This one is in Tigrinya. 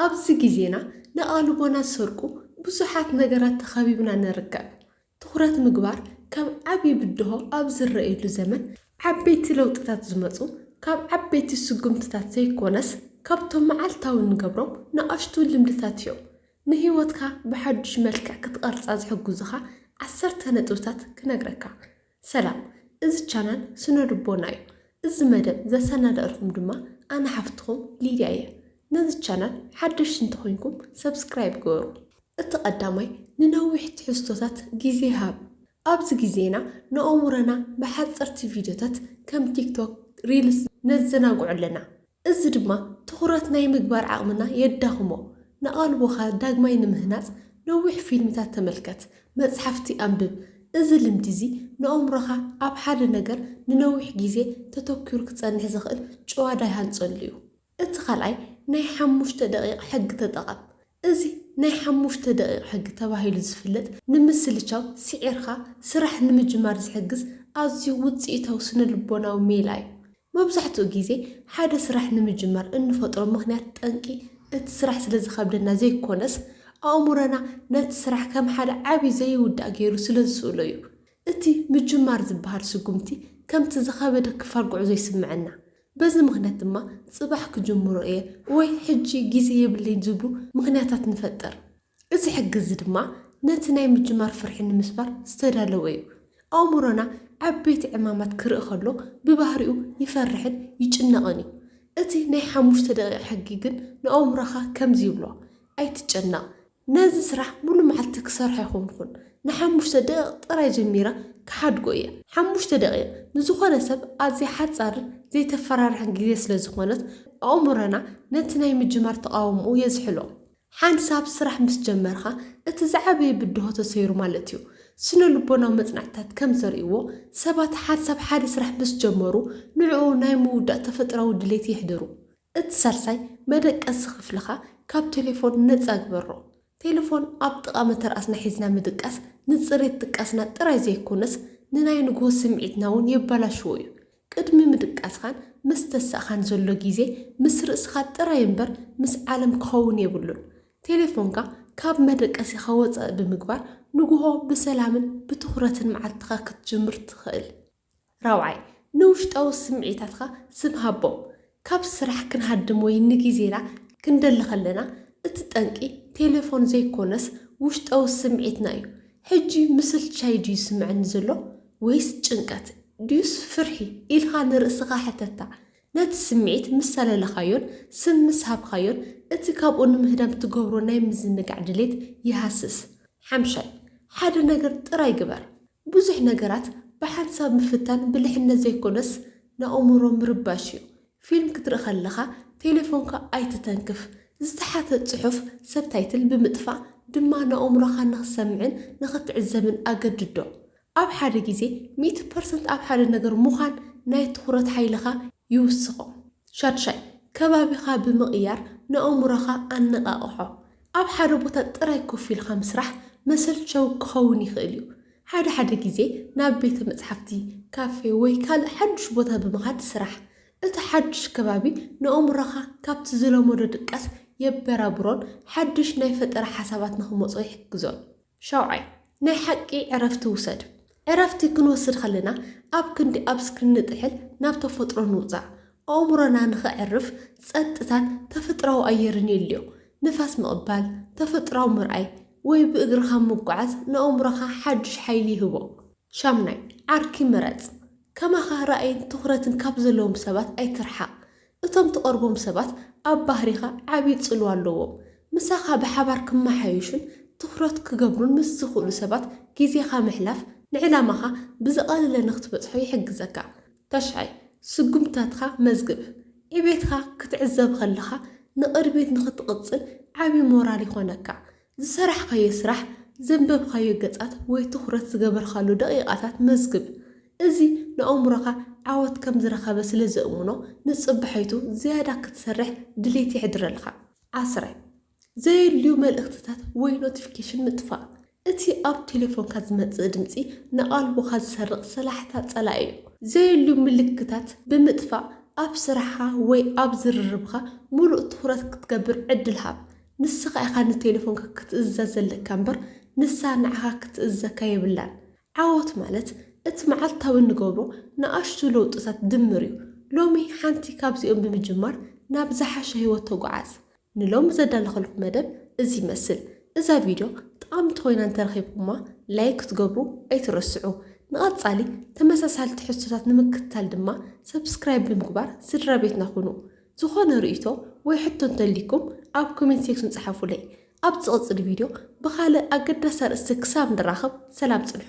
ኣብዚ ግዜና ንኣእልቦና ዝሰርቁ ብዙሓት ነገራት ተኸቢብና ንርከብ። ትኹረት ምግባር ከም ዓቢ ብድሆ ኣብ ዝረኣየሉ ዘመን፣ ዓበይቲ ለውጥታት ዝመጹ ካብ ዓበይቲ ስጉምትታት ዘይኮነስ ካብቶም መዓልታዊ እንገብሮም ንኣሽቱ ልምድታት እዮም። ንህይወትካ ብሓድሽ መልክዕ ክትቐርጻ ዝሕግዙኻ ዓሰርተ ነጥብታት ክነግረካ። ሰላም እዚ ቻናል ስነ ልቦና እዩ እዚ መደብ ዘሰናደእልኩም ድማ ኣነ ሓፍትኩም ሊድያ እየ ነዚ ቻናል ሓደሽቲ እንተኮይንኩም ሰብስክራይብ ግበሩ። እቲ ቀዳማይ ንነዊሕ ትሕዝቶታት ግዜ ሃብ ኣብዚ ግዜና ንኣእሙረና ብሓጸርቲ ቪድዮታት ከም ቲክቶክ ሪልስ ነዘናግዖ ኣለና እዚ ድማ ትኹረት ናይ ምግባር ዓቕምና የዳኽሞ። ንኣቓልቦኻ ዳግማይ ንምህናጽ ነዊሕ ፊልምታት ተመልከት፣ መጽሓፍቲ ኣንብብ። እዚ ልምዲ እዚ ንኣእምሮኻ ኣብ ሓደ ነገር ንነዊሕ ግዜ ተተኲሩ ክጸንሕ ዘኽእል ጭዋዳ ይሃንጸሉ እዩ። እቲ ካልኣይ ናይ ሓሙሽተ ደቒቕ ሕጊ ተጠቐም። እዚ ናይ ሓሙሽተ ደቒቕ ሕጊ ተባሂሉ ዝፍለጥ ንምስልቻው ስዒርካ ስራሕ ንምጅማር ዝሕግዝ ኣዝዩ ውጽኢታዊ ስነ-ልቦናዊ ሜላ እዩ። መብዛሕትኡ ግዜ ሓደ ስራሕ ንምጅማር እንፈጥሮ ምኽንያት ጠንቂ እቲ ስራሕ ስለ ዝኸብደና ዘይኰነስ፣ ኣእምሮና ነቲ ስራሕ ከም ሓደ ዓቢ ዘይውዳእ ገይሩ ስለ ዝስእሎ እዩ። እቲ ምጅማር ዝበሃል ስጕምቲ ከምቲ ዝኸበደ ክፋል ጕዕዞ ይስምዓና። በዚ ምኽንያት ድማ ጽባሕ ክጅምሮ እየ ወይ ሕጂ ግዜ የብለይን ዝብሉ ምኽንያታት ንፈጥር። እዚ ሕጊ'ዚ ድማ ነቲ ናይ ምጅማር ፍርሒ ንምስባር ዝተዳለወ እዩ። ኣእምሮና ዓበይቲ ዕማማት ክርኢ ከሎ ብባህሪኡ ይፈርሕን ይጭነቕን እዩ። እቲ ናይ ሓሙሽተ ደቒቕ ሕጊ ግን ንኣእምሮኻ ከምዚ ይብሎ፣ ኣይትጨነቕ፣ ነዚ ስራሕ ሙሉ መዓልቲ ክሰርሖ ኣይኮንኩን ንሓሙሽተ ደቂቅ ጥራይ ጀሚረ ክሓድጎ እየ ሓሙሽተ ደቂቅ ንዝኮነ ሰብ ኣዝያ ሓጻርን ዘይተፈራርሕን ግዜ ስለ ዝኮነት ኣእሙረና ነቲ ናይ ምጅማር ተቃውምኡ የዝሕሎ ሓንሳብ ስራሕ ምስ ጀመርካ እቲ ዝዓበየ ብድሆ ተሰይሩ ማለት እዩ ስነልቦናዊ መጽናዕትታት ከም ዘርእይዎ ሰባት ሓንሳብ ሓደ ስራሕ ምስ ጀመሩ ንዕኡ ናይ ምውዳእ ተፈጥራዊ ድሌት የሕድሩ እቲ ሳልሳይ መደቀሲ ክፍልኻ ካብ ቴሌፎን ነጻ ግበሮ። ቴሌፎን ኣብ ጥቓ መተርኣስና ሒዝና ምድቃስ ንጽሬት ድቃስና ጥራይ ዘይኮነስ ንናይ ንግሆ ስምዒትና እውን የበላሽዎ እዩ። ቅድሚ ምድቃስኻን ምስ ተሳእኻን ዘሎ ግዜ ምስ ርእስኻ ጥራይ እምበር ምስ ዓለም ክኸውን የብሉን። ቴሌፎንካ ካብ መደቀሲኻ ወጻኢ ብምግባር ንግሆ ብሰላምን ብትኹረትን መዓልትኻ ክትጅምር ትኽእል። ራብዓይ፣ ንውሽጣዊ ስምዒታትካ ስም ሃቦም። ካብ ስራሕ ክንሃድም ወይ ንግዜና ክንደሊ ከለና፣ እቲ ጠንቂ ቴለፎን ዘይኮነስ ውሽጣዊ ስምዒትና እዩ። ሕጂ ምስልቻይ ድዩ ዝስምዐኒ ዘሎ ወይስ ጭንቀት ድዩስ ፍርሒ ኢልካ ንርእስኻ ሕተታ። ነቲ ስምዒት ምስ ሰለለኻዮን ስም ምስ ሃብካዮን፣ እቲ ካብኡ ንምህዳም ትገብሮ ናይ ምዝንጋዕ ድሌት ይሃስስ። ሓምሻይ፣ ሓደ ነገር ጥራይ ግበር። ብዙሕ ነገራት ብሓንሳብ ምፍታን ብልሕነት ዘይኮነስ ንኣእምሮ ምርባሽ እዩ። ፊልም ክትርኢ ከለኻ ቴሌፎንካ ኣይትተንክፍ፣ ዝተሓተ ጽሑፍ፣ ሰብታይትል፣ ብምጥፋእ ድማ ንኣእምሮኻ ንኽሰምዕን ንኽትዕዘብን ኣገድዶ። ኣብ ሓደ ግዜ ሚእቲ ፐርሰንት ኣብ ሓደ ነገር ምዃን ናይ ትኹረት ሓይልኻ ይውስኾ። ሻድሻይ፣ ከባቢኻ ብምቕያር ንኣእምሮኻ ኣነቓቕሖ። ኣብ ሓደ ቦታ ጥራይ ኮፍ ኢልካ ምስራሕ መሰልቸዊ ክኸውን ይኽእል እዩ። ሓደ ሓደ ግዜ ናብ ቤተ መጽሓፍቲ፣ ካፌ ወይ ካልእ ሓድሽ ቦታ ብምኻድ ስራሕ። እቲ ሓድሽ ከባቢ ንኣእምሮኻ ካብቲ ዝለመዶ ድቃስ የበራብሮን ሓድሽ ናይ ፈጠራ ሓሳባት ንኽመጾ ይሕግዞን። ሻውዓይ፣ ናይ ሓቂ ዕረፍቲ ውሰድ። ዕረፍቲ ክንወስድ ከለና ኣብ ክንዲ ኣብ ስክሪን ንጥሕል ናብ ተፈጥሮ ንውጻእ። ኣእምሮና ንኸዕርፍ ጸጥታን ተፈጥራዊ ኣየርን የድልዮ። ንፋስ ምቕባል፣ ተፈጥራዊ ምርኣይ ወይ ብእግርኻ ምጉዓዝ ንኣእምሮኻ ሓዱሽ ሓይሊ ይህቦ። ሻምናይ፣ ዓርኪ ምረጽ። ከማኻ ራእይን ትኹረትን ካብ ዘለዎም ሰባት ኣይትርሓቕ። እቶም ትቐርቦም ሰባት ኣብ ባህሪኻ ዓቢ ጽልዋ ኣለዎም። ምሳኻ ብሓባር ክመሓየሹን ትኹረት ክገብሩን ምስ ዝኽእሉ ሰባት ግዜኻ ምሕላፍ ንዕላማኻ ብዝቐለለ ንኽትበጽሖ ይሕግዘካ። ታሽዓይ፣ ስጉምትታትካ መዝግብ። ዕቤትካ ክትዕዘብ ከለኻ ንቕድሚት ንኽትቕጽል ዓቢ ሞራል ይኾነካ። ዝሰራሕካዮ ስራሕ፣ ዘንበብካዮ ገጻት ወይ ትኹረት ዝገበርካሉ ደቒቓታት መዝግብ። እዚ ንኣእምሮኻ ዓወት ከም ዝረኸበ ስለ ዘእምኖ፣ ንጽባሒቱ ዝያዳ ክትሰርሕ ድሌት የሕድረልካ። ዓስረ። ዘየድልዩ መልእኽትታት ወይ ኖቲፊኬሽን ምጥፋእ። እቲ ኣብ ቴሌፎንካ ዝመጽእ ድምጺ ንቓልቦኻ ዝሰርቕ ሰላሕታ ጸላኢ እዩ። ዘየድልዩ ምልክታት ብምጥፋእ ኣብ ስራሕኻ ወይ ኣብ ዝርርብካ ምሉእ ትኹረት ክትገብር ዕድል ሃብ። ንስኻ ኢኻ ንቴለፎንካ ክትእዝዛ ዘለካ እምበር ንሳ ንዓኻ ክትእዝዘካ የብላን። ዓወት ማለት እቲ መዓልታዊ እንገብሮ ንኣሽቱ ለውጥታት ድምር እዩ። ሎሚ ሓንቲ ካብዚኦም ብምጅማር ናብ ዝሓሸ ህይወት ተጉዓዝ። ንሎሚ ዘዳለኸልኩም መደብ እዚ ይመስል። እዛ ቪድዮ ጠቓምቲ ኮይና እንተረኺብኩማ ላይክ ክትገብሩ ኣይትረስዑ። ንቐጻሊ ተመሳሳሊ ትሕዝቶታት ንምክትታል ድማ ሰብስክራይብ ብምግባር ስድራቤትና ኩኑ። ዝኾነ ርእይቶ ወይ ሕቶ እንተልይኩም ኣብ ኮሜንት ሴክሽን ጽሓፉለይ። ኣብ ዝቕጽል ቪድዮ ብኻልእ ኣገዳሲ ኣርእስቲ ክሳብ ንራኸብ ሰላም ጽንሑ።